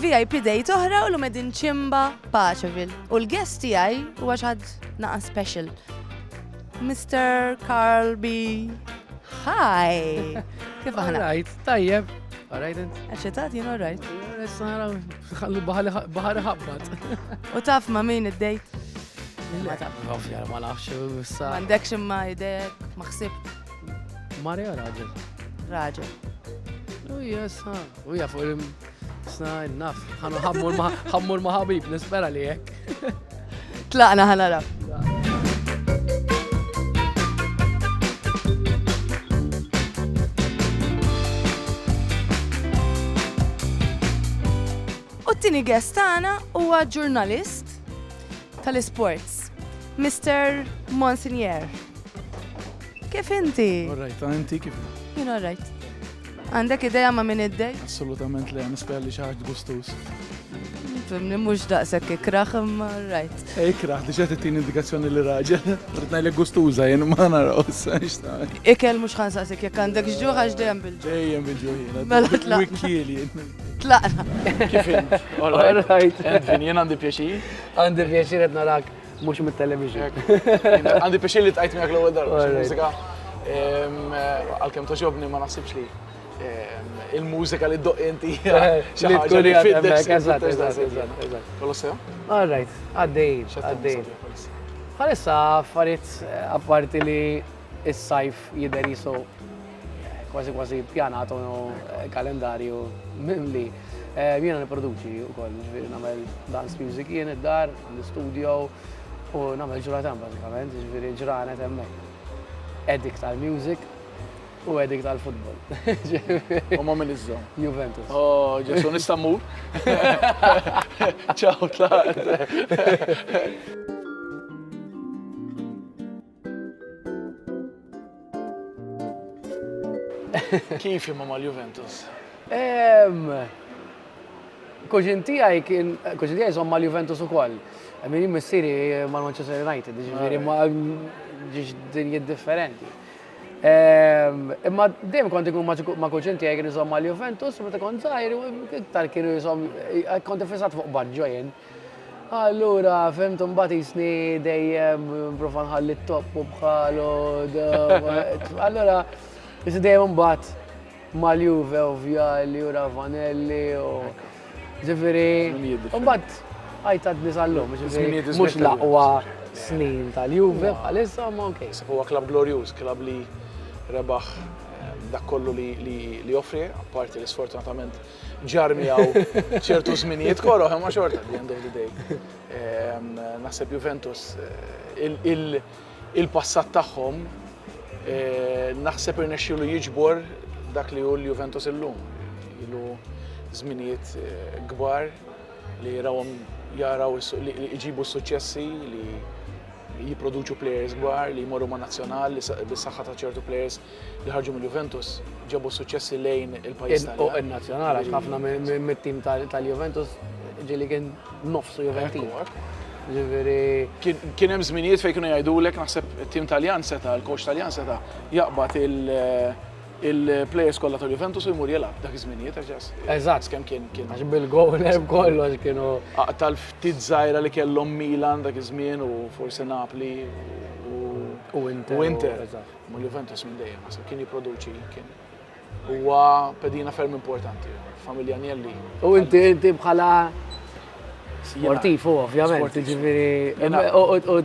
VIP date oħra u l-medin ċimba Paċevil. U l-guest tiegħi huwa xad naqa special. Mr. Carl B. Hi! Kif aħna? Alright, tajjeb. Alright, int. Eċetat, jien alright. Issa naraw, ħallu bahari ħabbat. U taf ma min id-dejt? Ma taf. Ovvja, ma nafx, issa. Mandekx imma idejek, ma xsib. Marja raġel. Raġel. U jessa, U ja fuq il sna naf, ħanu ħammur ma ħabib, nispera li jek. Tlaqna ħanara. U t-tini guest tagħna huwa ġurnalist tal-isports, Mr. Monsignor. Kif inti? All right, inti kif? Jien all right. Għandek ideja ma' min id-dej? Assolutament le, nispera li xaħġ gustus. Fimni mux daqsek ikraħ imma rajt. E, ikraħ, diġa t-tin indikazzjoni li raġel. Ritna li gustuza jen ma naraw s-sanċta. Ikel mux ħansaqsek jek għandek ġuħ għax dejjem bil-ġuħ. Dejjem bil-ġuħ jena. Mela tlaqna. Wikil jen. Tlaqna. Kifin. All right. Edvin, jen għandi pjaċir. Għandi pjaċir għedna rak. Mhux mit-television. Għandi pixin li tqajt miegħek l-ewwel darba mużika. Għalkemm toġobni ma naħsibx li il-mużika li ddoq inti. Li tkun li fiddex. Eżatt, eżatt, eżatt. Kolossew? All right, għaddej, għaddej. Għalissa affarijiet apparti li s-sajf jidher jisu Kważi kważi pjanat u kalendarju mimli. Eh, jiena niproduċi u koll, ġviri namel dance music jien id-dar, għandi studio u namel ġuratan bazzikament, ġviri ġranet emmek. Edik tal-music u edik tal-futbol. U ma minn iżżom. Juventus. Oh, ġesu nistammur. Ciao, tlaqt. Kif imma mal-Juventus? Kuxin tijaj kien, kuxin tijaj zom mal-Juventus u koll. Min missiri mal-Manchester United, ġifiri ma ġiġ dinji differenti. Imma dejjem kont ikun ma' kuxin tijaj kien zom mal-Juventus, meta kont zaħir, iktar kienu zom, kont fissat fuq Baggio jen. Allura fhimt imbagħad jisni dejjem nipprova nħalli t-topp u bħalu. Allura jisni dejjem imbagħad mal-Juve u Vjali u Ravanelli u ġifieri. Imbagħad għajt għad nisallum, ġifieri mhux l-aqwa snin tal-Juve bħalissa ma ok. Huwa klabb glorjuż, klabb li rebaħ dak kollu li joffri, apparti li sfortunatament ġar miegħu ċertu żminijiet koroh, imma xorta at the end of the day. Ehm, naħseb Juventus eh, il-passat tagħhom eh, naħseb irnexxielu jiġbor dak li hu l-Juventus illum. Ilu żminijiet eh, kbar li rawhom jaraw li jġibu suċċessi li jipproduċu players kbar li jmorru ma' nazzjonal li bis-saħħa ta' ċertu players li ħarġu mill-Juventus ġabu s-suċċessi lejn il-pajjiż tal Fuq in-nazzjonal għax ħafna mit-tim tal-Juventus ġieli kien nofsu Juventin. Ġifieri kien hemm żminijiet fejn kienu jgħidulek naħseb it-tim Taljan seta, il-coach Taljan seta jaqbad il-players kollha tal-Juventus u jmur jilgħab dak iż-żminijiet għax Eżatt kemm kien kien. Għax bil-gowl hemm kollox kienu. Aqtal ftit żgħira li kellhom Milan dak iż-żmien u forsi Napli u Inter. Ma' Juventus minn dejjem naħseb kien jipproduċi kien huwa pedina ferm importanti familja Agnelli. U inti inti bħala sportiv u ovvjament, ġifieri u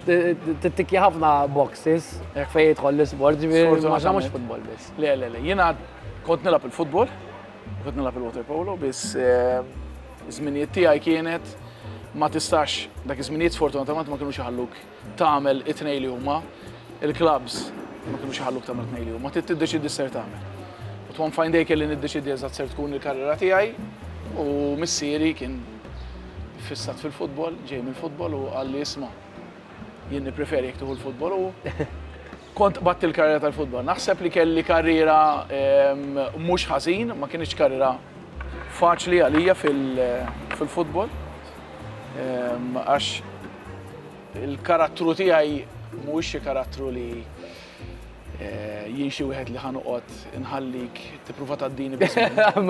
tittikja ħafna boxes fejn jidħol l-isport, ġifieri ma mhux futbol biss. Le le le, jiena kont nilgħab il-futbol, kont nilgħab il-water polo, biss eh, żminijiet tiegħi kienet ma tistax dak iż-żminijiet sfortunatament ma kienux iħalluk tagħmel it-tnejn li huma, il-klabbs ma kinux iħalluk tagħmel tnejn li huma, trid tiddeċiedi x'ser tagħmel. U one fine day kelli niddeċiedi eżatt ser tkun il-karriera tiegħi u missieri kien fissat fil-futbol, ġej mill-futbol u qalli isma' jien nippreferi jekk tieħu l-futbol u Kont qbadt il-karriera tal-futbol. Naħseb li kelli karriera mhux ħażin, ma kinitx karriera faċli għalija fil-futbol. Għax il-karattru tiegħi mhuwiex xi karattru li eh, jien xi wieħed li ħanoqgħod inħallik tipprova tgħaddini biss.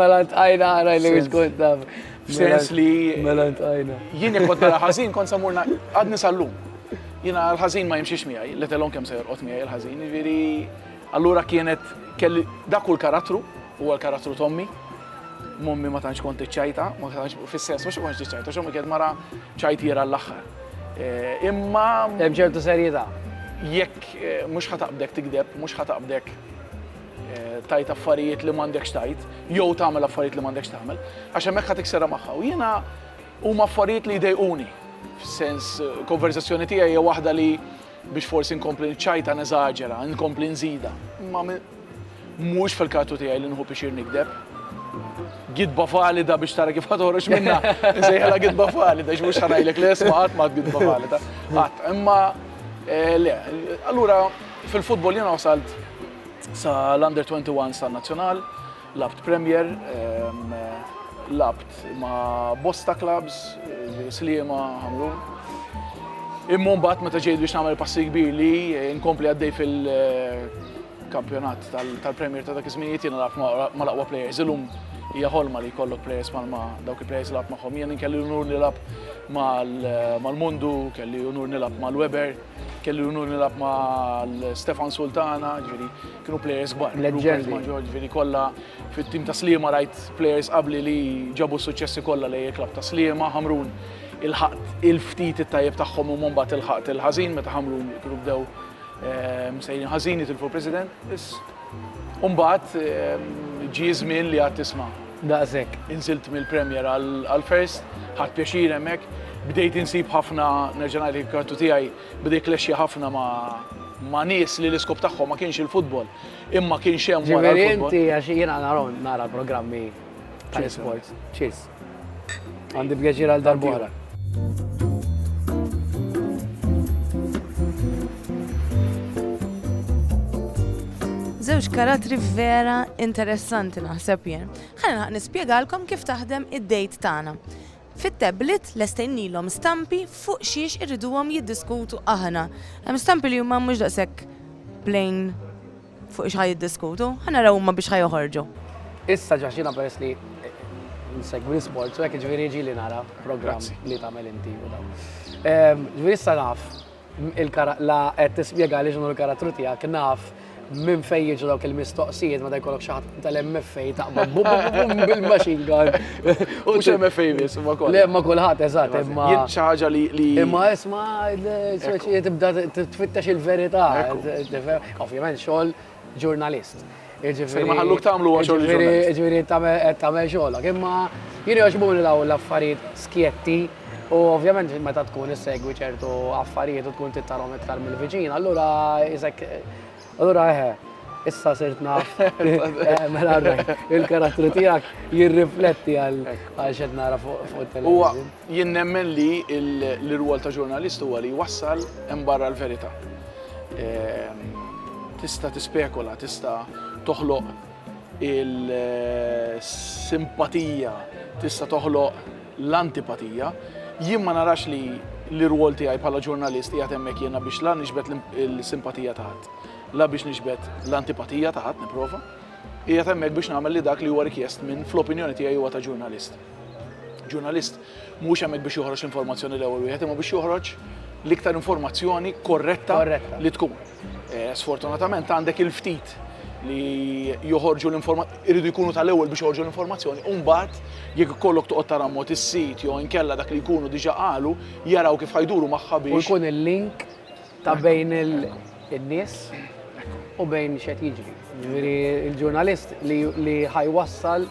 Mela ntqajna għara li mhux kont taf. F'sens li. Mela ntqajna. Jien jekk kont nara ħażin kont samurna għadni sal-lum. Jiena l-ħażin ma jimxiex miegħi, let alone kemm se jorqod miegħi l-ħażin, jiġifieri allura kienet kelli dak hu l-karattru, huwa l-karattru t'ommi. Mommi ma tantx kont iċċajta, ma tantx fis-sens mhux kont iċċajta, x'ommi kienet mara ċajtiera l-aħħar. Eh, imma hemm ċertu serjetà. Jekk eh, mhux ħataqbdek tigdeb, mhux ħataqbdek eh, tajt affarijiet li m'għandekx tajt, jew tagħmel affarijiet li m'għandekx tagħmel, għax hemmhekk ħadd iksera magħha. U jiena Huma affarijiet li jdejquni. F'sens, konverżazzjoni tiegħi hija waħda li biex forsi nkompli niċċajta neżaġera, nkompli nżida. Imma mhux fil-kartu tiegħi li nħu pixir nikdeb. Gidba valida biex tara kif ħatorox minna. Nsejħela gidba valida, x'mhux ħanajlek li isma' qatt ma gidba valida. Qatt, imma eh, le, allura fil-futbol jiena wasalt sa l-under 21 sa nazzjonal Lgħabt Premier, lgħabt ma' bosta klabbs, Sliema, Ħamrun. Imma mbagħad meta ġejt biex nagħmel passi kbir li nkompli għaddej fil-kampjonat tal-Premier ta' dak iż-żminijiet jiena naf mal-aqwa plejers. Illum hija ħolma li jkollok plejers bħalma dawk il-plejers lgħabt magħhom. Jien kelli l-unur nilgħab mal-Mundu, kelli l-unur nilgħab mal-Weber, kelli l-unur nilgħab ma' Stefan Sultana, ġifieri Kienu players kbar. Leġġendi. Ma' Ġorġ Vini kollha fit-tim ta' Sliema rajt players qabli li ġabu s-suċċessi kollha lejn il-klabb ta' Sliema, Ħamrun il-ħaqt il-ftit it-tajjeb tagħhom u mbagħad il-ħaqt il-ħażin meta Ħamrun kienu bdew ehm, sejrin ħażin jitilfu president. U mbagħad ehm, ġie żmien li għad tisma'. Daqshekk. Inżilt mill-Premier għal-First, ħadd pjaċir hemmhekk, bdejt insib ħafna nerġa' ngħid il-kartu tiegħi Beda jiklexxja ħafna ma' ma' nies li l-iskop tagħhom ma kienx il-futbol, imma kien x'hemm wara l-futbol. Ġifieri inti għax jiena narahom nara l-programmi tal-isports. Cheers. Għandi pjaċir għal darb'oħra. Żewġ karatri vera interessanti naħseb jien. Ħalli nispjegalkom kif taħdem id-dejt tagħna. Fit-tablet lestejnilhom stampi fuq xiex irriduhom jiddiskutu aħna. Hemm stampi li huma mhux daqshekk plain fuq x'ħa jiddiskutu. Ħa naraw huma biex ħa joħorġu. Issa ġax jiena peress li nsegwi l-isports u hekk jiġifieri jiġili nara programm li tagħmel inti u dawn. Jiġifieri issa naf. La qed tispjega għaliex dan hu l-karattru tiegħek, naf minn fejn jiġu dawk il-mistoqsijiet meta jkollok xi ħadd tal-MFA taqbad bil-machine gun. U xi MFA biss, ma kollha. Le, ma kulħadd, eżatt, imma. Jien xi ħaġa li. Imma isma' speċi tibda tfittex il-verità. Ovvjament xogħol ġurnalist. Jiġifieri ma ħalluk tagħmlu huwa xogħol il-ġurnalist. Jiġifieri qed tagħmel xogħlok. Imma jien jogħġbuni dawn l-affarijiet skjetti u ovvjament meta tkun issegwi ċertu affarijiet u tkun tittarhom iktar mill-viċin, allura isek allura eħe, issa sirt naf mela il-karattru tiegħek jirrifletti għal x'qed nara fuq it-television. Jien nemmen li l-irwol ta' ġurnalist huwa li jwassal hemm barra l-verità. Tista' tispekula, tista' toħloq il-simpatija, tista' toħloq l-antipatija. Jien ma narax li l-irwol tiegħi bħala ġurnalist qiegħed hemmhekk jiena biex la niġbed l-simpatija ta' ħadd, la biex niġbed l-antipatija ta' ħadd, nipprova. Qiegħed hemmhekk biex nagħmel li dak li huwa rikjest minn, fl-opinjoni tiegħi, huwa ta' ġurnalist. Ġurnalist mhuwiex hemmhekk biex joħroġ l-informazzjoni l-ewwel wieħed, imma biex joħroġ l-iktar informazzjoni korretta li tkun. Eh, sfortunatament għandek il-ftit li joħorġu l-informazzjoni, irridu jkunu tal-ewwel biex joħorġu l-informazzjoni, u mbagħad jekk ikollok toqgħod tara mod is-sit jew inkella dak li jkunu diġà qalu, jaraw kif ħajduru magħha biex. Ikun il-link ta' bejn in-nies u bejn x'qed jiġri. Ġifieri l-ġurnalist li ħajwassal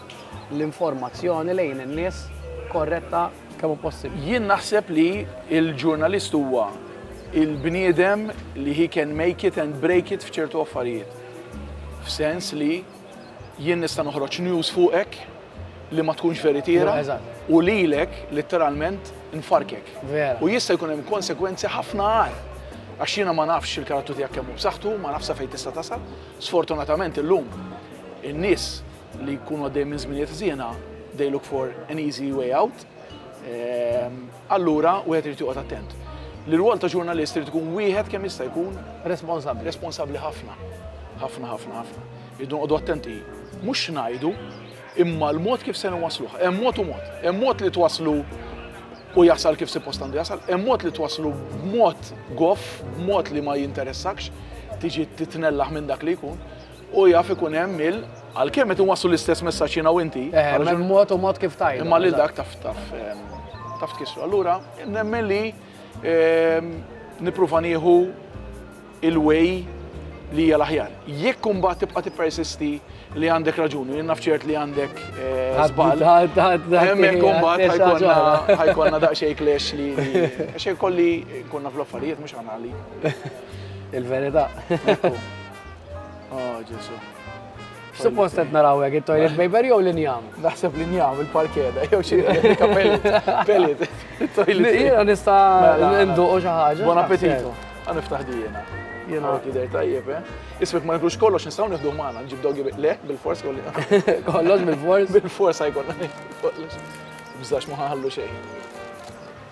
l-informazzjoni lejn in-nies korretta kemm hu possibbli. Jien naħseb li l-ġurnalist huwa il-bniedem li he can make it and break it f'ċertu affarijiet. F'sens li Jien nista' noħroġ news fuqek li ma tkunx veritiera u lilek litteralment nfarkek. U jista' jkun hemm konsegwenzi ħafna agħar. Għax jiena ma nafx il-karattru tiegħek kemm hu b'saħħtu, ma nafx sa fejn tista' tasal. Sfortunatament illum in-nies li jkunu għaddejjin minn żminijiet ħżiena they look for an easy way out. Allura wieħed irid joqgħod attent. L-irwol ta' ġurnalist irid ikun wieħed kemm jista' jkun responsabbli. Responsabbli ħafna. Ħafna, ħafna, ħafna. Irridu noqogħdu attenti mhux x'ngħidu, imma l-mod kif se nwassluh. Hemm mod u mod. Hemm mod li twasslu u jasal kif suppost għandu jasal, hemm mod li twasslu b'mod goff, b'mod li ma jinteressakx, tiġi titnellaħ minn dak li jkun. U jaf ikun hemm il għalkemm qed inwasslu l-istess messaġġ jiena u inti. Eh, hemm mod u mod kif tajn. Imma lil dak taf taf ehm, taf tkissru. Allura nemmen li ehm, nippruva nieħu il-way li hija l-aħjar. Jekk imbagħad tibqa' tippersisti li għandek raġuni, jien naf ċert li għandek eh, żball. Hemmhekk imbagħad ħajkonna daqsxejn klex li xejn kolli konna fl-affarijiet mhux għanali. Il-verità. Oh, Ġesu. Suppost qed naraw hekk it-toilet paper jew l-injam. Naħseb l-injam il-parkeda jew xi replika pellet. Pellet. Toilet. Jiena nista' mela, ninduq xi ħaġa. Buon appetito. Għan niftaħ dijena. Jiena tidher tajjeb, eh? Ismek ma nifrux kollox nistgħu nieħdu magħna nġib dogi le bil-fors kolli. Kollox bil-fors? Bil-fors ħajkonna kollox. Bżax ma ħallu xejn.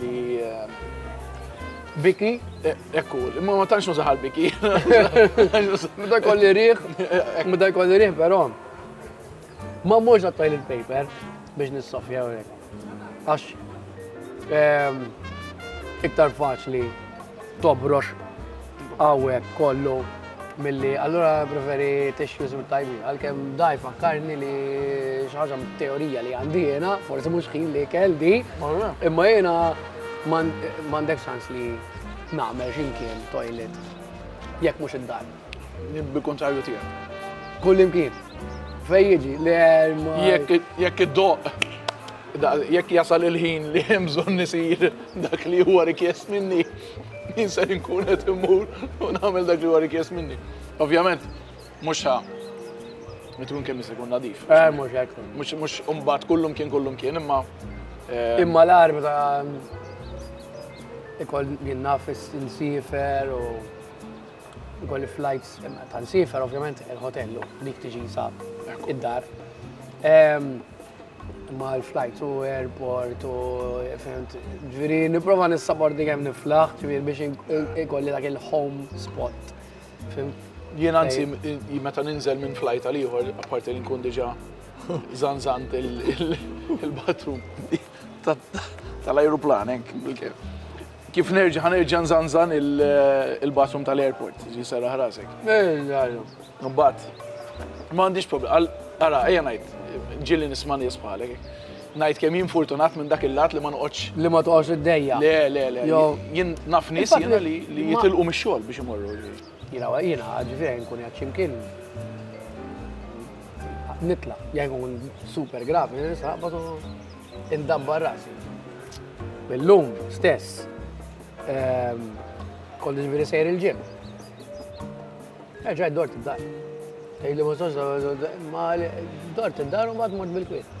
li biki, ekku, ma ma tantx nużaħal biki. Meta kolli riħ, meta kolli riħ, pero. Ma mux għattajl il-paper biex nissofja u rek. Għax, ehm, iktar faċli tobrox Għawek kollu milli allura preferi tissues mit tajbi għalkemm daj fakkarni li xaġa teorija li għandi jena, forsi mhux ħin li kell di, imma jena m'għandek sans li nagħmel x'imkien toilet jekk mhux id-dar. Nibbi kontrarju tiegħek. Kull imkien. Fej jiġi, li Jekk id-doq, jekk jasal il-ħin li hemm bżonn nisir dak li huwa rikjest minni. Jien ser inkun qed immur u nagħmel dak li huwa rikjest minni. Ovvjament, mhux ħa Mitkun kemm se jkun nadif. Eh, mhux hekk. Mhux mhux imbagħad kullum kien kullum kien imma. Eh, imma l-ar meta ikoll jien naf insifer u Ukoll il-flights ta' nsifer, ovvjament il-hotellu, dik tiġi sa id-dar. Ma l-flights u airport u fent, ġviri niprofa nissabordi kem niflaħ, ġviri biex ikolli dak il-home spot. Jien anzi, meta ninżel minn flight għal ieħor, apparti li nkun diġa zanzant il-bathroom. tal-ajruplan hekk bil-kif. Kif nerġa' ħanerġa' nżanżan il-bathroom tal-airport, ġi sara ħrasek. Mbagħad, ma għandix problem. Ara, ejja ngħid, ġieli nisma' nies bħalek. Ngħid kemm jien fortunat minn dak il-lat li ma noqgħodx. Li ma toqgħodx id-dejja. Le, le, le. Jien naf nies jiena li jitilqu mix-xogħol biex imorru. Jiena jiena ġifieri nkun qiegħed xi mkien nitla' jekk nkun super gravi nisa batu indabbar rasi. Illum stess ehm, kont ġifieri sejr il-ġim. Eġa dort id-dar. Tgħidli ma ma dort id-dar u mbagħad mort bil-kwiet.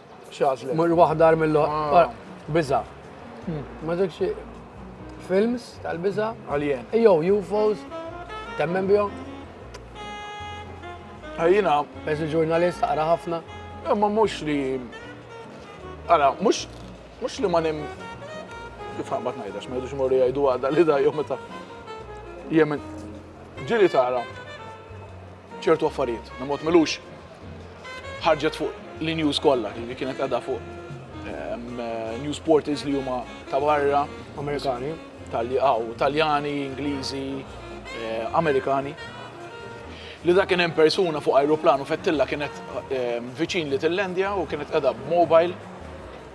X'għażlet? Mur waħda għar mill Biża. Ma ġekx films tal-biża? Alien. Jew UFOs, temmen bihom? Ejjina. Eżi ġurnalist, għara ħafna. Ma mux li. Għara, mux. Mux li ma nim. Kif bat najdax, ma jidux morri għajdu għada li da jom meta. Jemen. Ġiri tara. ċertu affarijiet, li mod milux ħarġet fuq l-news kollha, li kienet għadha fuq ehm, news portals li huma ta' barra. Amerikani. Taljani, Ingliżi, eh, Amerikani. Li da kien hemm persuna fuq ajruplan u fettilla kienet ehm, viċin li Tillandja u kienet qeda b'mobile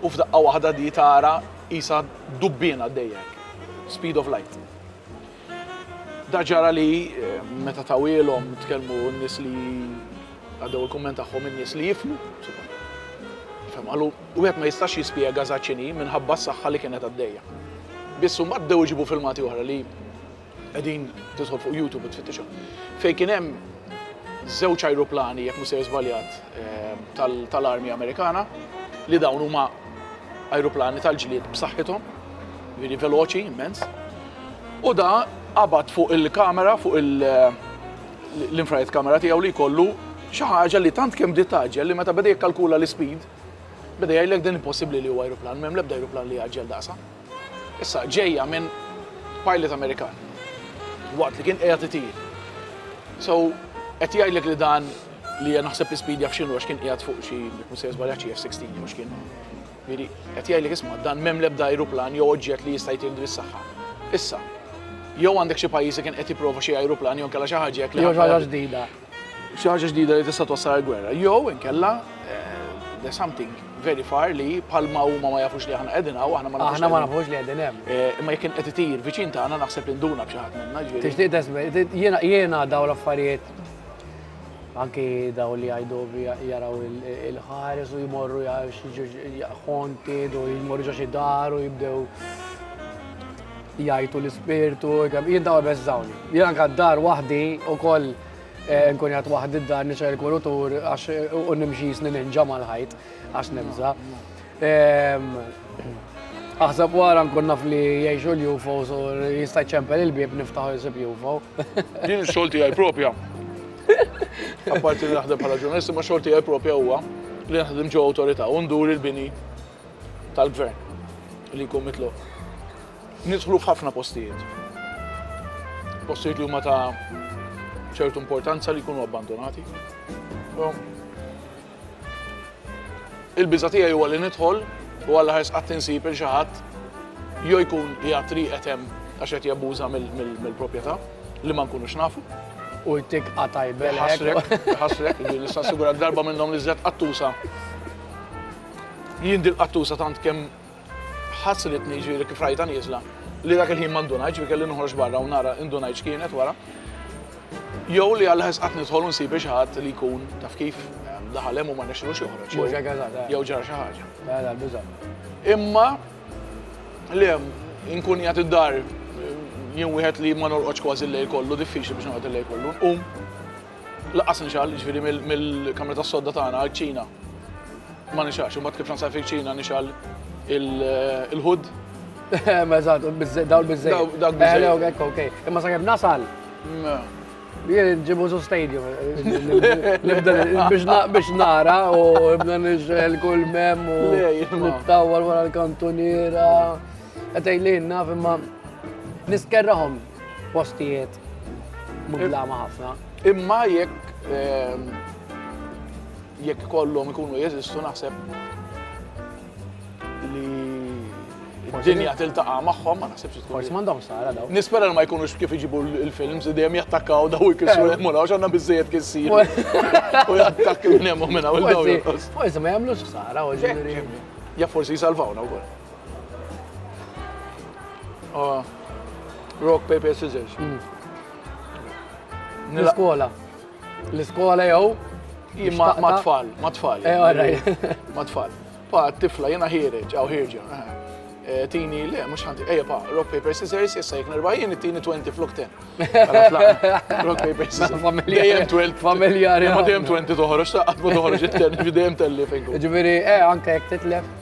u f'daqqa waħda di tara isa dubbina dejjek. Speed of light. Dak ġara li meta tawielhom tkellmu n-nies li għaddew il-kumment tagħhom in-nies li jifhmu. Fem, għalu, u għet ma jistax jispjega zaċini minħabba s-saxħa li kienet għaddeja. Bissu ma d-dew iġibu filmati uħra li għedin titħol fuq YouTube u tfittixu. Fej kienem zewċ aeroplani, jek musir zbaljat, eh, tal-armi Amerikana, li dawn huma aeroplani tal-ġlied b'saħħithom, veri veloċi, immens. U da qabad fuq il-kamera, fuq l-infrared kamera tiegħu li jkollu xi ħaġa li tant kemm bdiet taġġel li meta beda jikkalkula l-ispeed, beda jgħidlek din impossibbli li huwa ajruplan, m'hemm l-ebda ajruplan li jgħaġġel daqsa. Issa ġejja minn pilot Amerikan waqt li kien qiegħed itir. So, qed jgħidlek li dan li naħseb l-ispeed jaf x'inhu għax kien qiegħed fuq xi, mhux se żbalja xi F-16 jew x'kien. Jiġifieri qed jgħidlek isma' dan m'hemm l-ebda ajruplan jew oġġett li jista' jtieħdu lis-saħħa. Issa, jew għandek xi pajjiż li kien qed jipprova xi ajruplan jew inkella xi ħaġa hekk li. Jew xi ħaġa ġdida. Xi ħaġa ġdida li tista' twassal għall-gwerra. Jew inkella there's something very far li bħalma huma ma jafux li aħna qegħdin hawn, aħna ma nafux. Aħna ma nafux li qegħdin hemm. Eh, imma jekk kien qed itir viċin tagħna naħseb li nduna b'xi ħadd minna ġifieri. Tixtieq jiena jiena dawn l-affarijiet Anki daw li għajdu jaraw il-ħares u jmorru xonted u jmorru ġoxi dar u jibdew jajtu l-spirtu, jien daw bezzawni. Jien anka dar wahdi u koll eh, nkun jgħat wahdi d-dar nixħel kurutur għax u nimxi snin inġa mal-ħajt għax nibza. Aħseb wara nkun naf li jgħixu l-UFO so jista' ċempel il-bieb niftaħu jisib UFO. Din xolti għaj propja. Apparti li naħdem bħala ġurnalist, ma xolti għaj propja huwa li naħdem ġo autorita' u ndur il-bini tal-gvern li jkun mitlu. Nidħlu f'ħafna postijiet. Postijiet li huma ta' ċertu importanza li jkunu abbandonati. Il-biża' tiegħi huwa li nidħol u għall-aħħar sqatt insib 'il xi ħadd jew jkun qiegħed rieqed hemm għax qed jabbuża mill-proprjetà li ma nkunux nafu. U jtik qatgħa jbelgħek. Iħassrek, iħassrek, jiġifieri nista' nassigurak darba minnhom li żedt qattusa. Jien dil-qattusa tant kemm Ħasslitni, jiġifieri kif rajtha nieżla, li dak il-ħin ma ndunajtx, jiġifieri kelli noħroġ barra u nara indunajt x'kienet wara. Jew li għal ħesqat nidħol u nsib xi ħadd li jkun taf kif daħal hemm u ma nexxilux joħroġ. Jew xi ħaġa ta' jew ġara xi ħaġa. Ta' ta' biża'. Imma le nkun jgħat id-dar jien wieħed li ma norqodx kważi l-lejl kollu, diffiċli biex noqgħod il-lejl kollu, nqum. Laqqas nixgħal, jiġifieri mill-kamra tas-sodda tagħna għall-kċina ma nixgħalx, imbagħad kif nsajf il-kċina nixgħal il-ħud. Eżatt, dawl biżżejjed. Dawl biżżejjed. Ok, imma sakemm nasal. Jien ġibu su stadium. Biex nara u ibna nixel kull mem u nittawal wara l-kantuniera. Għetaj li naf imma niskerraħom Postijiet mudlama ħafna. Imma jekk ehm, jekk kollhom ikunu jeżistu naħseb li d-dinja tiltaqa' magħhom ma naħsibx tkun. Forsi m'għandhom sara daw. Nispera li ma jkunux kif iġibu l-films dejjem jattakkaw daw ikisru eh. hemm u għax għandna biżejjed kien sir. U jattakk minn hemm u minn hawn Forsi ma jagħmlux sara u ġifieri. Ja forsi jsalvawna wkoll. Ah, rock, paper, scissors. Mm. L-iskola. L-iskola jew ma tfal, ma tfal. Eh, ma tfal. Pa tifla jena ħireġ, għaw ħirġa. Eh, eh, tini, le, mux ħanti, eja pa, rock, paper, scissors, jessa jek nerba jien, tini 20 flok 10. Rock, paper, scissors. Dejjem 12. Familjari. Ma dejjem 20 toħroġ, ta' għatmu toħroġ it-10, dejjem telli fejn. Ġviri, eh, anka jek titlef.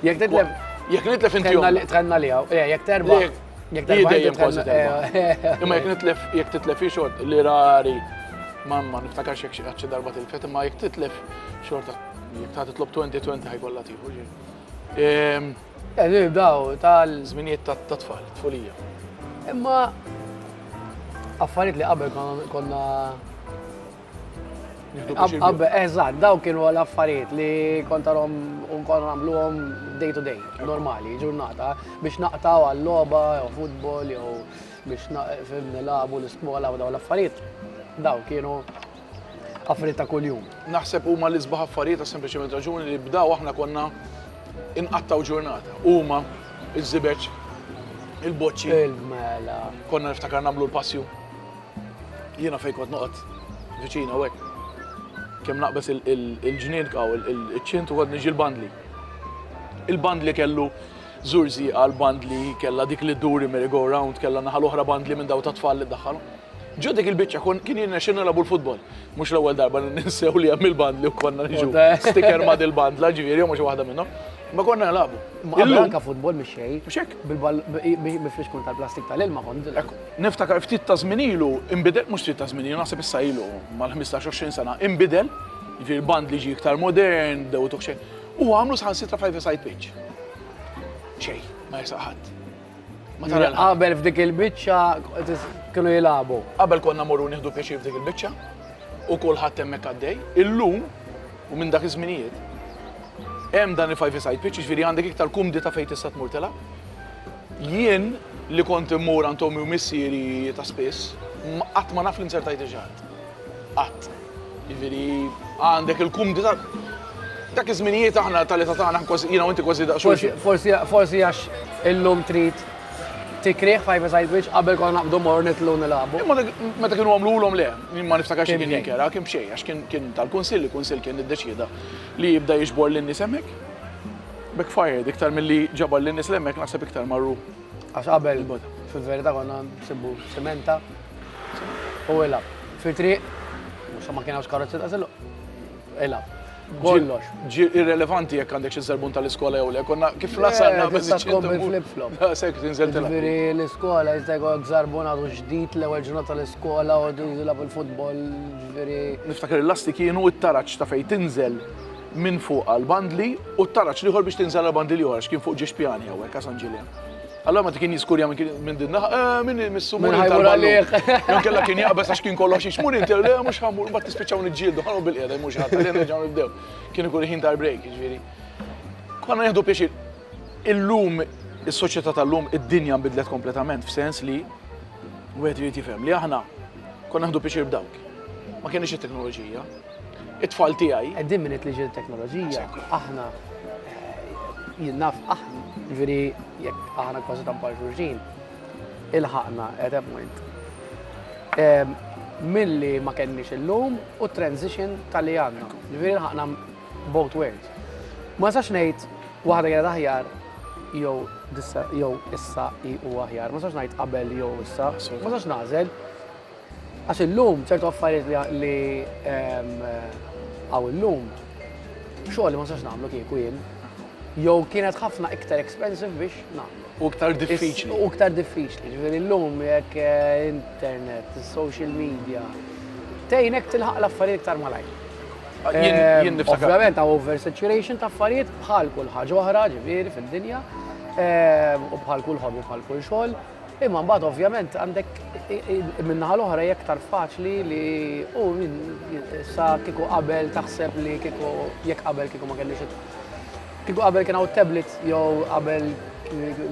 Jekk titlef. Jekk nitlef inti. Trenna li għaw. Eh, jekk terba. Jekk terba. Jekk kważi terba. Eh, eh. Imma jekk nitlef, jekk titlef ixot li rari. Mamma, niftakarx jekk xaċċi darba tilfet, imma jekk titlef xorta. Jekk ta' titlob 2020 ħajkolla tiħu. Ehm, Eżir daw tal-żminijiet ta' tfal, tfulija. Imma affarijiet li qabel konna Qabba, eżatt, daw kienu l-affarijiet li kontarom unkon għamluhom day to day, normali, ġurnata, biex naqtaw għall-loba, jew futbol, jew biex nilabu l-iskola u daw l-affarijiet. Daw kienu affarijiet ta' kuljum. Naħseb huma li sbaħ affarijiet ta' sempliċement raġuni li bdaw aħna konna inqattaw ġurnata. Huma, iż-żibeġ, il-boċċi. Il-mela. Konna niftakar nagħmlu l-passju. Jiena fejn kont noqgħod viċin hawnhekk, kemm naqbeż il-ġnien hawn iċ-ċint u kont niġi l-bandli. Il-bandli kellu żur żieqa l-bandli kellha dik li dduri merry-go round kellha naħa l-oħra bandli minn daw tat-tfal li ddaħħalhom. Ġo dik il-biċċa kien jirnexxilna nilagħbu l-futbol. Mhux l-ewwel darba li ninsew li hemm il-bandli u konna niġu sticker ma' dil-bandla ġifieri jew ma' xi waħda minnhom. Ma konna nilagħbu. Imma qabel anke futbol mhix xejn. Mhux hekk? Bil-ball mifrix kont tal-plastik tal-ilma kont. Niftakar ftit ta' żmien ilu inbidel, mhux ftit ta' żmien ilu, naħseb issa ilu mal-ħmistax, għoxrin sena, inbidel, jiġifieri l-band li ġie iktar modern, dewwtuh xejn, u għamlu saħansitra five-a-side pitch. Xejn, ma jersaq ħadd. Ma tara l-ħadd. Qabel f'dik il-biċċa kienu jilagħbu. Qabel konna mmorru nieħdu pjaċir f'dik il-biċċa u kulħadd hemmhekk għaddej. Illum, u minn dak iż-żminijiet, hemm dan il-five-a-side pitch, jiġifieri għandek iktar kumdità fejn tista' tmur tilgħab. Jien, li kont immur għand ommi u missieri ta' spiss, qatt ma naf li nzertajt il-ġrad. Qatt. Jiġifieri, għandek il-kumdità. Dak iż-żminijiet aħna tal-età tagħna kważi, jiena u inti kważi daqs xulxin. Forsi, forsi għax illum trid tikrih five aside which qabel konna naqbdu mmorru nitlu nilagħbu. Imma dak meta kienu għamlulhom le, jien ma niftakarx li kien inkera, kien b'xejn għax kien tal-kunsill, il-kunsill kien iddeċieda li jibda jiġbor lin-nies hemmhekk. Backfired, iktar milli ġabar lin-nies li hemmhekk naħseb iktar marru. Għax qabel fil-verità konna nsibbu sementa u ilab. Fit-triq, mhux ma kien hawnx karozzi ta' siluq. Ilab. Kollox. Ġi irrelevanti jekk għandek xi serbun tal-iskola jew le, konna kif lasalna minn sa tkompli flip-flop. Da sekk tinżel tilab. Ġifieri l-iskola jista' jkollok żarbun għadu ġdid l-ewwel ġurnata tal-iskola u jilab il-futbol, ġifieri. Niftakar il-lasti kienu t-taraġġ ta' fejn tinżel minn fuq għall-bandli u t-taraġ l-ieħor biex tinżel għall-bandli l-ieħor għax kien fuq ġiex pjani hawnhekk għal San Ġiljan. Allora meta kien jiskurja minn din naħa, eh, minn missu mur tal-għalih. Jon kella kien jaqbes għax kien kollox jixmur inti, le eh, mhux ħamur, mbagħad tispiċċaw niġġieldu, ħanu bil-qiegħda mhux ħadd, li nerġgħu nibdew. Kien ikun ħin tal-break, jiġifieri. Konna nieħdu pjaċir. Illum is-soċjetà tal-lum id-dinja nbidlet kompletament f'sens li wieħed irid jifhem li aħna konna nieħdu pjaċir b'dawk. Ma kienx it-teknoloġija. it-tfal tiegħi. Qegħdin minn it-liġi teknoloġija, aħna jinnaf aħna, ġifieri jekk aħna kważi tampar xulxin, il-ħaqna at that point. Ehm, milli ma kenniex illum u transition tal-li għandna, ġifieri il-ħaqna both worlds. Ma sax ngħid waħda kienet aħjar jew jew issa i u aħjar, ma sax ngħid qabel jew issa, ma sax nażel, Għax illum ċertu affarijiet li hawn illum xogħol li ma nistax nagħmlu kieku jien jew kienet ħafna iktar expensive biex nagħmlu. U iktar diffiċli. U iktar diffiċli. Ġifieri llum jekk eh, internet, social media, tgħinek tilħaq l-affarijiet iktar malajr. Ah, jien eh, Ovvjament hawn oversaturation ta' affarijiet bħal kull ħaġa oħra, ġifieri fid-dinja, eh, u bħal kull ħobbi, bħal kull xogħol. Imma mbagħad ovvjament għandek min-naħa l-oħra jekk tar faċli li u sa kieku qabel taħseb li kieku jekk qabel kieku ma kellix kieku qabel kien hawn tablet jew qabel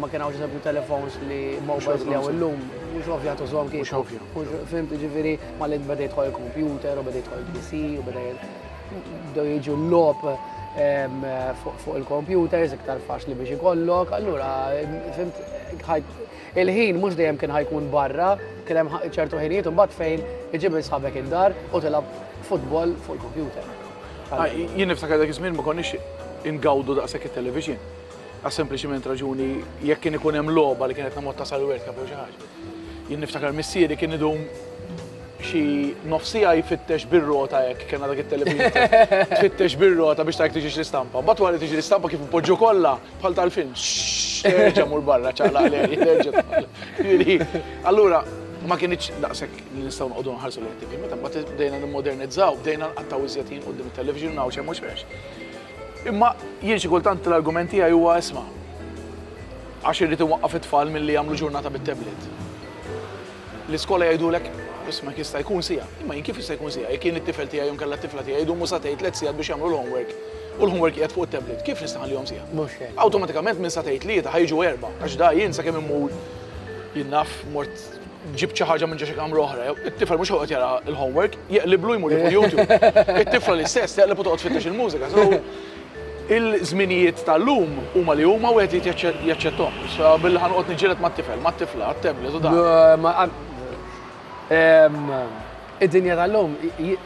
ma kien hawn ġisabju telefons li mobiles li hawn illum, mhux ovvja tużhom kif. Mhux ovvja. Fim tiġifieri ma li beda jidħol il-computer u beda jidħol il-PC u beda Do jiġu l-lop fuq il-computers, iktar faċli biex ikollok, allura, fimt, il-ħin mux dejjem kien ħajkun barra, kien hemm ċertu ħinijiet un bat fejn iġib sħabek id-dar u tilab futbol fuq il-kompjuter. Ah, jien niftakar dak iż-żmien ma konniex ingawdu daqshekk it-television. Għas-sempliċiment raġuni jekk kien ikun hemm logħba li kienet namot tasal World Cup jew xi ħaġa. Jien niftakar missieri kien idum xi nofsija jfittex bir-rota hekk kien dak it-televiżor. Tfittex bir-rota biex tajk tiġix l-istampa. Mbagħad wara tiġi l-istampa kif poġġu kollha bħal tal-film. Terġa' mur barra ċaqla għalej. Allura ma kienx daqshekk li nistgħu noqogħdu nħarsu l-ħtib. Meta mbagħad bdejna nimmodernizzaw, bdejna nqattaw iżjed jien qudiem it-television hawn xejn mhux Imma jien xi kultant l-argument tiegħi huwa isma', għax irrid inwaqqaf it-tfal milli jagħmlu ġurnata bit-tablet. L-iskola jgħidulek, isma' jekk jista' jkun siegħa. Imma jien kif jista' jkun siegħa jekk jien it-tifel tiegħi jew inkella t-tifla tiegħi jdumu satejn tliet sigħat biex jagħmlu l-homework u l-homework qiegħed fuq it-tablet, kif nista' nħallihom siegħa? Mhux hekk. Awtomatikament minn satejn tlieta ħa jiġu erbgħa għax da jien sakemm immur jien naf mort ġibt xi ħaġa minn ġo xi kamra oħra jew, it-tifel mhux ħajqgħod jara l-homework, jeqliblu jmur jieħu l-YouTube. It-tifla l-istess teqleb u toqgħod tfittex il-mużika. So, il-żminijiet tal-lum huma li huma u wieħed irid jaċċettom. So, billi ħa noqgħod niġġieled mat-tifel, mat-tifla, għat-tablet u dan. Id-dinja tal-lum, you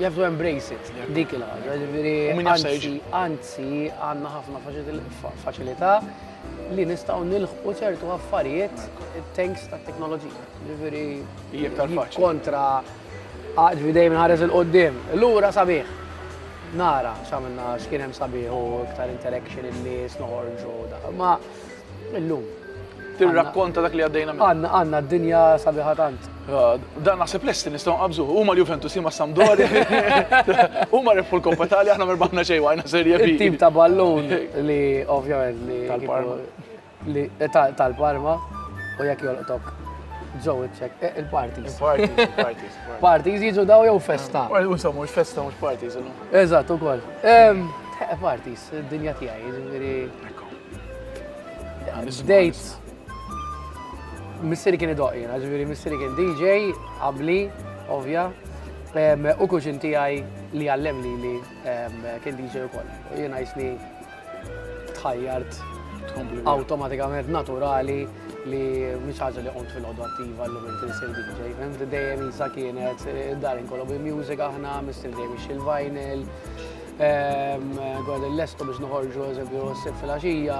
have to embrace it, dik il-ħaġa. Ġifieri, anzi, għandna ħafna faċilità. li nistgħu nilħqu ċertu affarijiet tanks ta' teknoloġija. Ġifieri kontra ġifieri dejjem ħares il-qoddim. Lura sabiħ. Nara x'għamilna x'kien hemm sabiħ u iktar interaction in-nies noħorġu da. Ma illum. Tirrakkonta dak li għaddejna minn. Għandna d-dinja sabiħa tant. Dan naħseb lesti nistgħu nqabżuh. Huma l-Juventus huma Sampdoria. Huma rebħu l-Coppa Italia aħna merbaħna xejn waqajna serje bi. Tim ta' ballun li ovvjament li tal-Parma. Li tal-Parma u jekk jolqtok ġew iċċek eh, il-parties. Parties, parties. Parties jiġu daw jew festa. Unsa mhux festa mhux parties illum. Eżatt ukoll. Eh, parties, id-dinja tiegħi, jiġifieri. Dejt Missieri kien idoq jiena, ġifieri missieri kien DJ, qabli, ovvja, u kuxin tiegħi li għallem li li kien DJ ukoll. U jiena jisni tħajjart automatikament naturali li mhix ħaġa li qont fil-ħodu attiva l minn tinsir DJ. Fehmt dejjem isa kienet id-dar inkollu bi music aħna, missier dejjem ixil vinyl, għad l-lestu biex noħorġu eżempju s-sib fil-axija,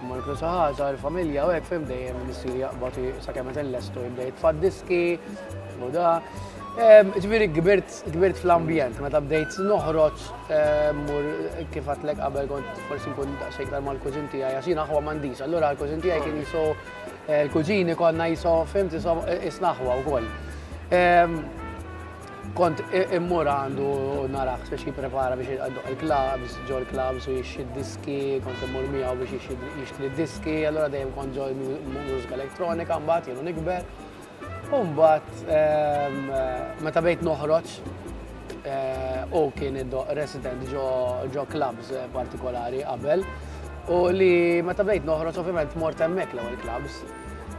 Mur kull saħħa sar familja u hekk fim dejjem missier jaqbad sakemm qed inlestu jibda jitfa' diski u da. Ġifieri kbirt fl-ambjent meta bdejt noħroġ mur kif għatlek qabel kont forsi nkun daqsxejn iktar mal-kużin tiegħi għax jien aħwa m'għandix. Allura l-kużin tiegħi kien jisu l-kuġini konna jisu fim isnaħwa wkoll. Kont immur għandu narax biex jipprepara biex jgħadduq il-klabs, ġo l-klabs u jixxi diski, kont immur miegħu biex jixtri diski, allura dejjem kont ġo l-mużika elettronika mbagħad jienu nikber. U mbagħad ehm, meta bejt noħroġ eh, u kien resident ġo klabs eh, partikolari qabel u li meta bejt noħroġ ovvjament mort hemmhekk l-ewwel klabs.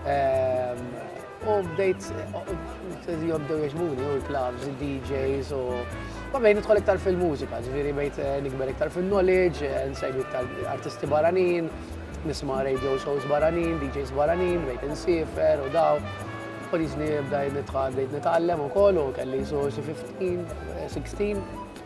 Ehm, U bdejt jobdew jaġbuni u l-clubs, il-DJs u Vabbej, nidħol iktar fil-mużika, ġviri bejt eh, nikber iktar fil-knowledge, eh, nsegwi iktar artisti baranin, nisma radio shows baranin, DJs baranin, bejt nsifer u daw. Polizni bdaj nitħad, bdejt nitgħallem u kollu, kelli so 15, 16,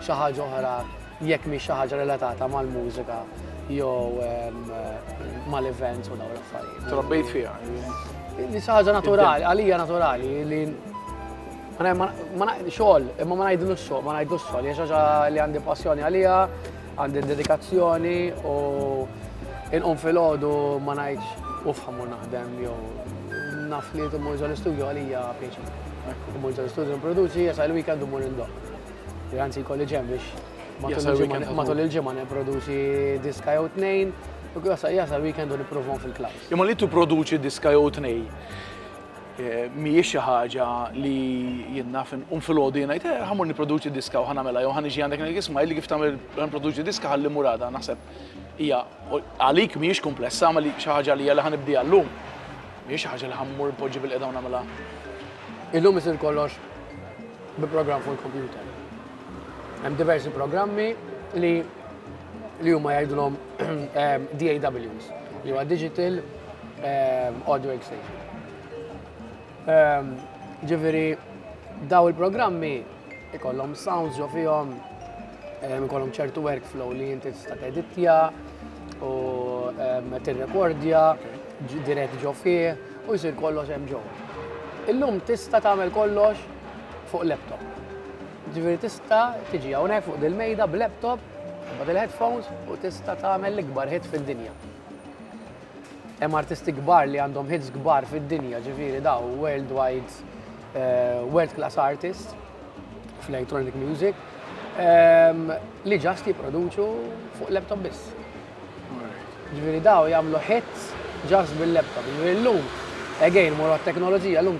xi ħaġa oħra jekk mhix xi ħaġa relatata mal-mużika jew mal-events u dawn l-affarijiet. Trabbejt fiha. Li xi ħaġa naturali, għalija naturali li xogħol, imma ma ngħidlu x-xogħol, ma ngħidlu x-xogħol, hija xi ħaġa li għandi passjoni għalija, għandi dedikazzjoni u inqum fil-ħodu ma ngħidx u fħamu naħdem jew naf li tumur ġol-istudju għalija pieċi. Tumur ġol-istudju nproduċi, jasa il-weekend tumur indoq. Li anzi jkolli ġem biex matul il-ġimgħa nipproduċi diska jew tnejn, jasal weekend u nipprovhom fil-klaws. Imma li tipproduċi diska jew tnejn eh, mhijiex xi ħaġa li jinnaf un fil-għodu jiena jgħid, eh, ħamur nipproduċi diska u ħanamela jew ħan iġi għandek ngħid isma' li kif tagħmel nipproduċi diska ħalli murada naħseb hija għalik mhijiex komplessa ma li xi ħaġa li hija ħanibdi għallum. Mhijiex xi ħaġa li ħammur poġġi bil-qeda u nagħmilha. Illum isir kollox bi programm fuq il-kompjuter. Hemm diversi programmi li li huma jgħidulhom ehm, DAWs, li huwa Digital ehm, Audio Exchange. Ehm, ġifieri daw il-programmi ikollhom sounds jo fihom ikollhom ċertu workflow li inti tista' teditja u tirrekordja dirett ġo fih u jsir kollox hemm ġo. Illum tista' tagħmel kollox fuq laptop. Ġifieri tista' tiġi hawnhekk fuq dil-mejda b'laptop, tibgħat il-headphones u tista' tagħmel l-ikbar hit fid-dinja. Hemm artisti kbar li għandhom hits kbar fid-dinja, ġifieri daw worldwide, eh, world class artists fl-electronic music, ehm, li ġast jipproduċu fuq laptop biss. Jiġifieri dawn jagħmlu hits just bil-laptop. Jiġifieri llum, again, mmorru għat-teknoloġija, llum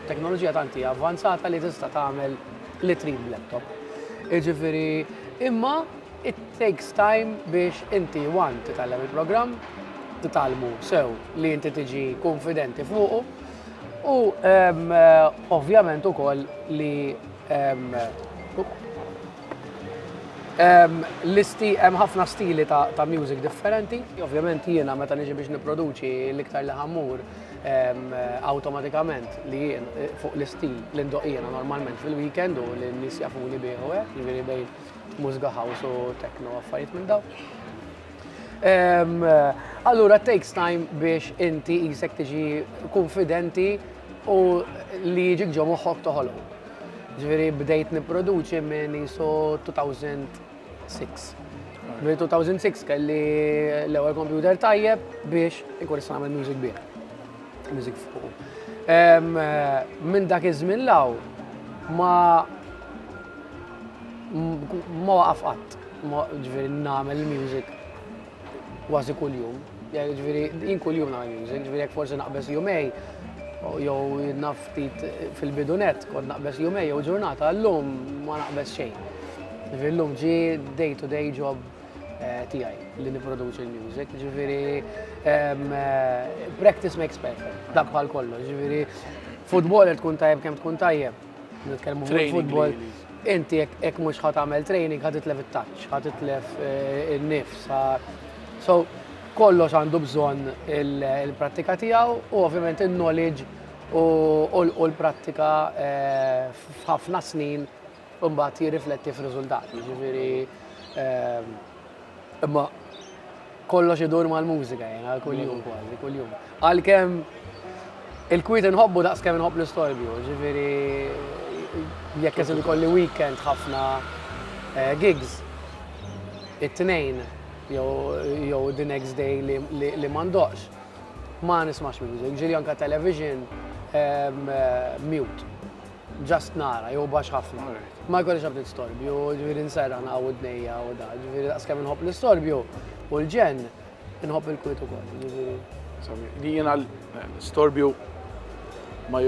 teknoloġija tant hija avvanzata li tista' tagħmel li trid b'laptop. Jiġifieri imma it takes time biex inti one titgħallem il-programm, titgħallmu sew li inti tiġi kunfidenti fuqu u ovvjament ukoll li L-isti, hemm ħafna stili ta', ta music differenti. Ovvjament jiena meta niġi biex nipproduċi l-iktar li ħammur awtomatikament li jien eh, fuq l-istil li ndoq jiena normalment fil-weekend u li n-nies jafuni bih u hekk, jiġifieri bejn mużika house u techno affarijiet minn daw. Allura takes time biex inti jisek tiġi konfidenti u li jiġik ġo moħħok toħolqu. Ġifieri bdejt nipproduċi minn isu 2006. Minn 2006 kelli l-ewwel computer tajjeb biex ikun nista' nagħmel music bih. Music fuq. Minn dak iż-żmien law ma ma waqaf qatt. Ġifieri nagħmel music. Kważi kuljum. Ġifieri jien kuljum nagħmel music, ġifieri jekk forsi naqbeż jumej jew naf ftit fil-bidunet kont naqbeż jumej jew ġurnata, llum ma naqbeż xejn. Ġifieri llum ġi day to day job eh, tiegħi li nipproduċi l-music, ġifieri eh, practice makes perfect, dak bħal kollox, ġifieri futboler tkun tajjeb kemm tkun tajjeb, Nitkellmu fuq il-futbol. Inti jekk mhux ħadd għamel training ħadd itlef it-taċċ, ħadd itlef eh, in-nifs. So kollox għandu bżonn il-prattika tiegħu u ovvjament il-knowledge u l-prattika eh, f'ħafna snin mbagħad jirrifletti f'riżultati. Ġifieri eh, Imma kollox idur mal-mużika jena, mela, kull-jum kważi, kull-jum. Għal-kem il-kwit nħobbu daqs kem nħobb l-istorbju, ġifiri jekk jazil kolli weekend ħafna eh, gigs, it-tnejn, jew the next day li mandoqx, ma nismax music, ġiri anka television eh, mute. Just nara, jew baxx ħafna. Ma jkollix ebda distorbju, ġifieri nserraħ naqgħu widnejja u da, ġifieri daqskemm inħobb l-istorbju u l-ġenn, inħobb il-kwiet ukoll, ġifieri. Li jiena l-istorbju ma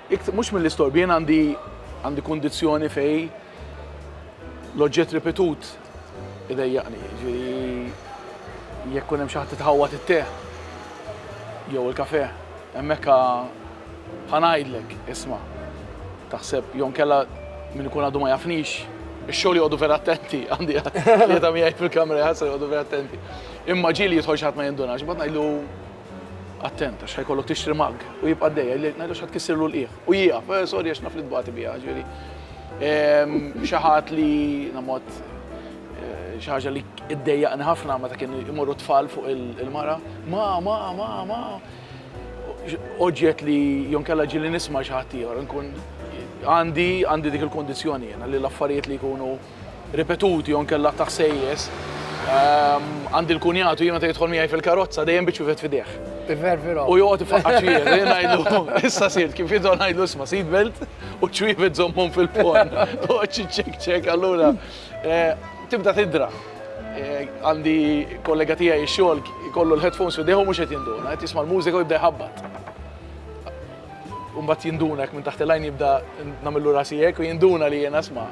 mhux mill-istorbju, jiena għandi għandi kundizzjoni fejn l-oġġett ripetut Idejjaqni, jiġifieri jekk ikun hemm xi ħadd li tħawwad it-te jew il-kafè, hemmhekk ħa ħa ngħidlek, isma', taħseb, jew inkella min ikun għadu ma jafnix, ix-xogħol joqogħdu vera attenti, għandi tlieta miegħi fil-kamra jħassru joqogħdu vera attenti. Imma ġieli jidħol xi ħadd ma jindunax, imbagħad ngħidlu, attent għax ħa jkollok tixtri mug, u jibqa' għaddej, ngħidlu x'ħa tkissirlu l-qiegħ. U hija, sorry għax naf li tbati biha, ġifieri xi ħadd li namod xi ħaġa li ddejjaqni ħafna meta kienu jmorru tfal fuq il-mara, ma, ma, ma, ma. Oġġett li jonkella ġili nisma' xi ħadd ieħor, nkun għandi għandi dik il-kondizzjoni jiena li l-affarijiet li jkunu ripetuti jew inkella ta' ħsejjes. Għandi l-kunjat u jien meta jidħol miegħi fil-karozza dejjem biċ-ċuvet f'idejh. Ivervira. U joqgħod ifaqqar ċwievet, u jien ngħidlu, issa sirt, kif jidħol ngħidlu isma' seat belt u ċ-ċwievet żommhom fil-ponn. Toqgħod xi ċekċek, allura tibda tidra. Għandi kollega tiegħi x-xogħol ikollu l-headphones f'idejh u mhux qed jinduna, qed jisma' l-mużika u jibda jħabbat. U mbagħad jinduna hekk minn taħt il-għajn jibda nagħmillu rasi hekk u jinduna li jiena isma'.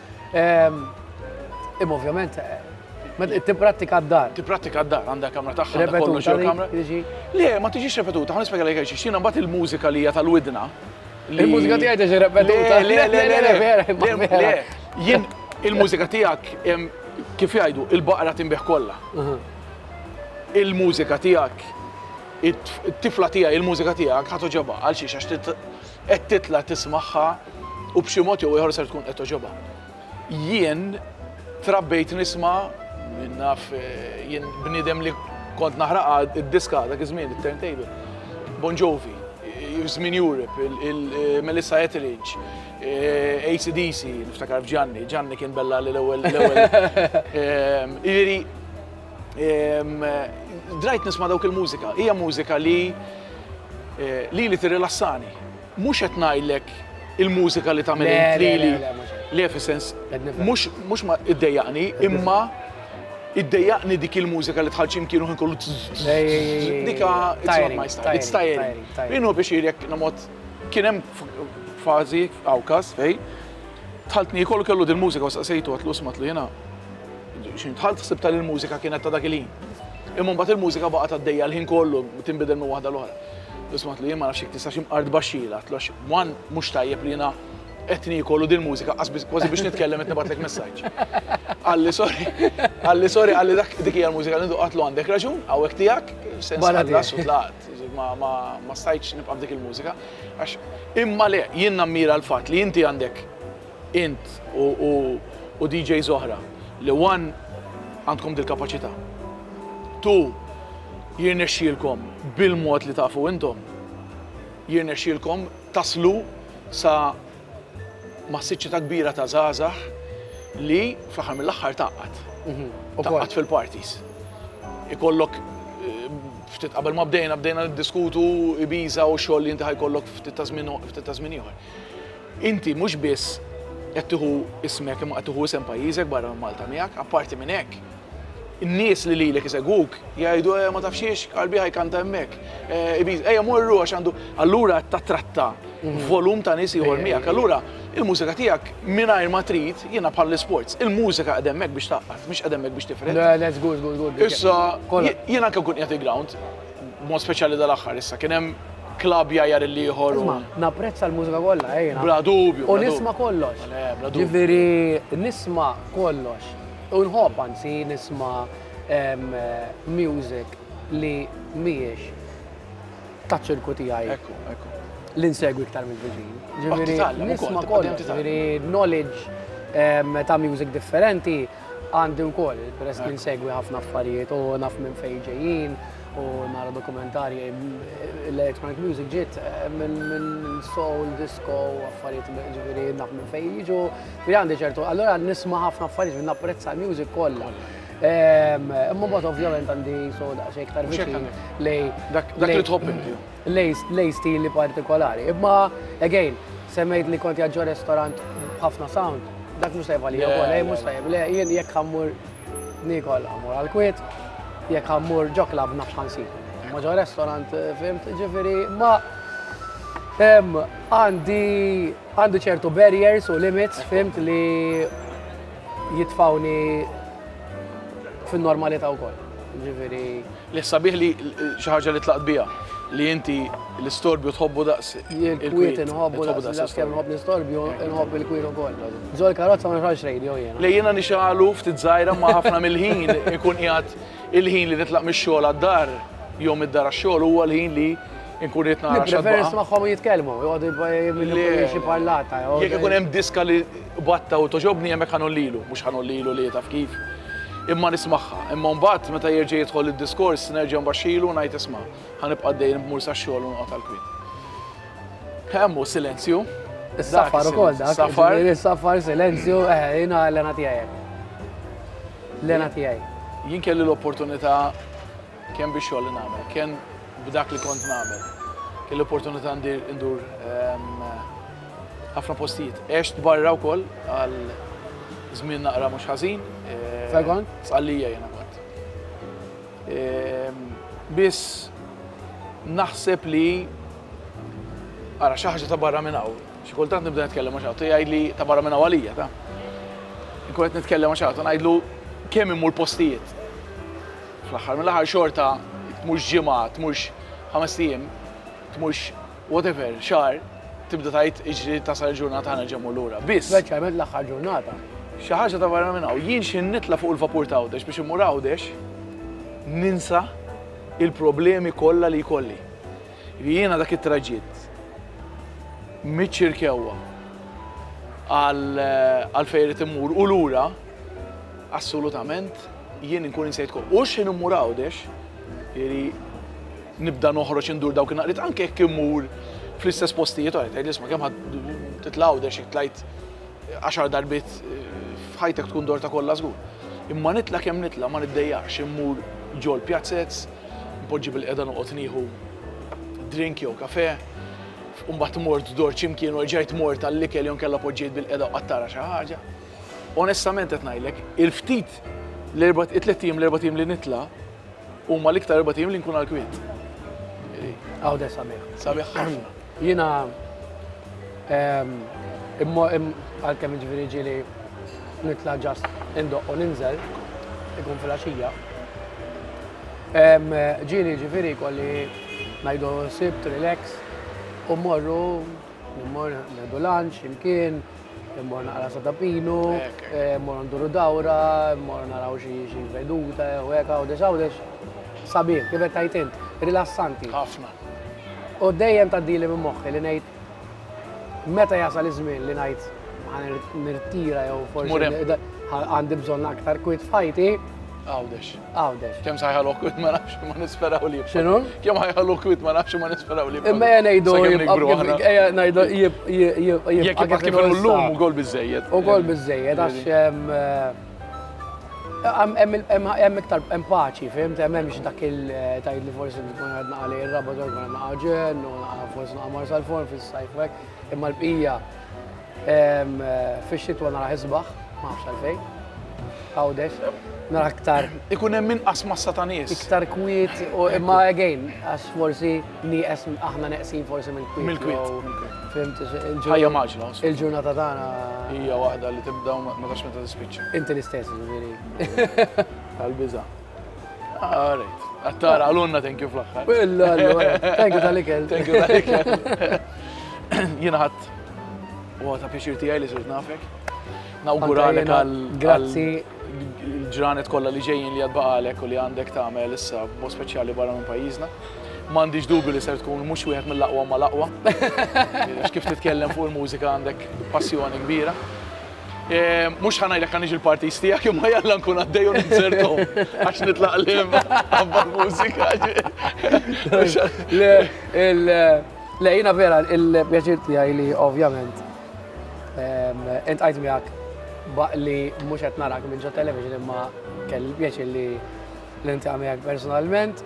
Imma ovvjament Tipprattika d-dar. Tipprattika d-dar, għandha kamra tagħha, għandha kollox jew kamra. Le, ma tiġix repetuta, ħan nispjega lek għax xina mbagħad il-mużika li hija tal-widna. Il-mużika tiegħi tiġi repetuta. Le, le, le, le, vera, Jien il-mużika tiegħek kif jgħidu, il-baqra tinbih kollha. Il-mużika tiegħek it-tifla tiegħi, il-mużika tiegħek ħadd ġabha għal xiex għax Qed titla' tismagħha u b'xi mod jew ieħor ser tkun qed togħġobha. Jien trabbejt nisma' min naf jien bniedem li kont naħraqha d-diska dak iż-żmien, it-turntable. Bon Jovi, żmien Europe, il-Melissa Etheridge, AC/DC, niftakar f'Ġanni, Ġanni kien bella li l-ewwel. Jiġifieri. Drajt nisma' dawk il-mużika. Hija mużika li eh, lili tirrilassani. Mhux qed ngħidlek il-mużika li tagħmel lili. Le, fis-sens, mhux ma iddejjaqni, imma iddejjaqni dik il-mużika li tħallċim kienu ħin kollu dika it's tiring. Inhu biex jirjek namot kien hemm fażi awkas fej tħaltni kollu kellu din mużika u saqsejtu għatlu smatlu jena X'int dħalt ħsibtha li l-mużika kienet ta' dak il-ħin. Imma mbagħad il-mużika baqgħet għaddejja l-ħin kollu tinbidel minn waħda l-oħra. Isma' għatlu jien ma nafx jekk tistax imqard baxxila, għatlu għax one mhux tajjeb li jiena qed niekol u dil-mużika qasbis kważi biex nitkellem qed nibgħatlek messaġġ. Qalli sorry, qalli sorry, qalli dak dik hija l-mużika li nduq għatlu għandek raġun, hawnhekk tiegħek, sens ħallas u tlaqt. Ma stajtx nibqa' f'dik il-mużika. Għax imma le, jien nammira l-fatt li inti għandek Int u DJs oħra li one għandkom dil-kapaċità, two jirnexxielkom bil-mod li tafu intom, jirnexxielkom taslu sa massiċċità kbira ta' żgħażagħ li fl-aħħar mill-aħħar tgħaqqad. Tgħaqqad fil-parties. Ikollok ftit qabel ma bdejna, bdejna niddiskutu Ibiza u x-xogħol li inti ħa jkollok ftit ta' żmien ieħor. Inti mhux biss qed tieħu ismek imma qed tieħu isem pajjiżek barra minn Malta miegħek, apparti minn hekk, in-nies li lilek isegwuk jgħidu eh ma tafx xiex, Qalbi Ħaj kanta hemmhekk, eh Ibiza, ejja morru għax għandu, allura qed tattratta volum ta' nies ieħor miegħek. Allura il-mużika tiegħek mingħajr ma trid, jiena bħall-isports, il-mużika qegħda hemmhekk biex tgħaqqad, mhix qegħda hemmhekk biex tifred. Le, le, żgur, żgur, żgur. Issa, jien anke nkun qiegħed il-ground, B'mod speċjali dal-aħħar issa kien hemm klabb jgħajjar il-ieħor. Isma, napprezza l-mużika kollha, ejna. Eh, bla dubju. U nisma kollox. Eh, Ġifieri nisma kollox. U nħobb anzi nisma music li mhijiex taċ-ċirku tiegħi. Ekku, ekku. L-insegwi iktar mill-viġin. Ġifieri nisma kollox, ġifieri knowledge ta' music differenti. Għandi wkoll, peress li nsegwi ħafna affarijiet u naf minn fejn ġejjin u nara dokumentarji l-electronic music ġiet eh, minn soul, disco, affarijiet ġifieri naf minn fejn jiġu. Ġifieri għandi ċertu, allura nisma' ħafna affarijiet minn napprezza l-music kollha. Ehm, imma mbagħad ovvjament għandi soda xejn iktar viċin lej dak li tħobb inti. lejn stili partikolari. Imma, again, semmejt li kont jaġġor restorant b'ħafna sound, dak mhux tajjeb għalija wkoll, eh, mhux tajjeb, le, jien jekk ħammur nikol ħammur għal-kwiet, jekk ħammur ġo klab nafx ħansib. Ma ġo restorant, eh, fimt, ġifiri, ma għandi għandi ċertu barriers u limits, fimt li jitfawni fin-normalità wkoll. Ġifiri, Li sabiħ li xi ħaġa li tlaqt biha, li inti l-istorbju tħobbu daqs il-kwiet. Inħobbu daqs il-kwiet, inħobb l-istorbju, inħobb il-kwiet ukoll. Ġo l-karozza ma nħarġx radio jiena. Li jiena nixgħalu ftit żgħira ma ħafna mill-ħin inkun qiegħed il-ħin li nitlaq mix-xogħol għad-dar jew mid-dar għax-xogħol huwa l-ħin li nkun qed nara xi ħaġa. Preferi nismagħhom jitkellmu, joqogħdu jibqa' jagħmlu xi parlata. Jekk ikun hemm diska li Batta u togħġobni hemmhekk ħa ngħollilu, mhux ħa ngħollilu li taf kif, imma nismagħha. Imma mbagħad meta jerġa' jidħol id-diskors nerġa' nbaxxilu u ngħid isma', ħa nibqa' dejjem b'mur sax-xogħol u noqgħod għall-kwiet. Hemm hu silenzju. Is-safar ukoll dak. Safar. Is-safar, silenzju, eħe, jiena l-għena tiegħi hekk. L-għena tiegħi. Jien kelli l-opportunità Kemm bix-xogħol li nagħmel, kemm b'dak li kont nagħmel. Kelli l-opportunità ndur ħafna postijiet. Għext barra wkoll għal żmien naqra mhux ħażin. Fejn kont? F'Sqallija jiena kont. Biss naħseb li ara xi ħaġa ta' barra minn hawn. Xi kultant nibda nitkellem ma' xi ħadd jgħidli ta' barra minn hawn għalija ta'. Inkun qed nitkellem ma' xi ħadd u ngħidlu kemm immur postijiet. Fl-aħħar mill-aħħar xorta tmurx ġimgħa, tmurx ħamest ijiem, tmurx whatever, xahar, tibda tgħid iġri tasal il-ġurnata ħa nerġa' mmur lura. Biss. Speċjalment l-aħħar ġurnata. Xi ħaġa ta' barra minn hawn. Jien x'ħin nitla' fuq il-vapur ta' Għawdex biex immur Għawdex, ninsa il-problemi kollha li jkolli. Jiena dak it-traġitt miċ-Ċirkewwa għal fejn irid immur u lura, Assolutament, jien inkun insejt kol. U x'ħin immur Għawdex, jieri nibda noħroġ indur dawk in-naqriet anke jekk immur fl-istess postijiet oħra, tgħid isma' kemm ħadd titla' Għawdex jekk tlajt għaxar darbiet f'ħajtek tkun dor ta' kollha żgur. Imma nitla' kemm nitla' ma niddejjaqx immur ġol pjazzez, npoġġi bil-qeda noqgħod nieħu drink jew kafe, u mbagħad mort dor x'imkien u erġajt mort għall-ikel jew inkella poġġejt bil-qeda u qatt tara xi ħaġa. Onestament qed ngħidlek, il-ftit l-erbat, it-tliet ijiem l-erbat ijiem li nitla' huma l-iktar erbat ijiem li nkun għall-kwiet. Għawdex sabiħ. Sabiħ ħafna. Jiena ehm, għalkemm ġifieri ġieli nitla' ġast indoq u ninżel, ikun fil-għaxija. Ehm, ġieli ġifieri kolli ngħidu sibt, relax, u morru, morru, ngħidu lunch, imkien, Immor naqra sa tapinu, immor nduru dawra, immor naraw xi veduta, u hekk għawdex għawdex. Sabiħ, kif qed tgħid int, rilassanti. Ħafna. U dejjem tgħaddili minn moħħi li ngħid meta jasal iż-żmien li ngħid nirtira jew forsi għandi bżonn aktar kwit fajti. Għawdex. Għawdex. Kemm sajħa l-okwit ma nafx ma nisperaw li. Xinu? Kemm ħajħa l-okwit ma nafx ma nisperaw li. Imma jena jdu jibqa kif l-lum u gol bizzejed. U gol bizzejed, għax hemm iktar hemm paċi, fim, hemm hemmx dak il-tajt li forsi bikun għadna għalli il-rabba dwar għadna għagġen, u forsi naqamar sal-forn fil-sajfek, imma l-bqija Fix-xitwa nara ħisbaħ, ma nafx għalfejn. Għawdex, nara aktar. Ikun hemm inqas massa ta' nies. Iktar kwiet u imma again, għax forsi nieqes aħna neqsin forsi minn kwiet. Minn kwiet. Fimt, ħajja maġla. Il-ġurnata tagħna. Hija waħda li tibda u ma tax meta tispiċċa. Inti l-istess, ġifieri. Tal-biża'. All right. Attara, għalunna thank you fl-axħar. Illa, thank you tal-ikel. Thank you tal-ikel. Jina ħat, u għata pixir tijaj li zurt nafek. Nawguralek għal. Grazzi. Ġranet kolla li ġejjin li għadbaqalek u li għandek tagħmel issa bo speċjali barra minn pajjiżna. M'għandix dubju li ser tkun mhux wieħed mill-aqwa ma l-aqwa. Kif titkellem fuq il-mużika għandek passjoni kbira. Mhux ħa ngħidlek ħa niġi l-parties tiegħek imma jalla nkun għaddej u ninzerthom għax nitlaq liem ħabba l-mużika. Le, jiena vera il-pjaċir tiegħi li ovvjament intqajt miegħek li mhux qed narak minn ġo television imma kelli l-pjaċir li niltaqa' miegħek personalment.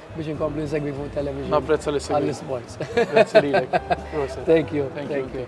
biex inkomplu nsegwi fuq television. Napprezza li segwi. Għall-sports. Grazzi lilek. Thank you. Thank you.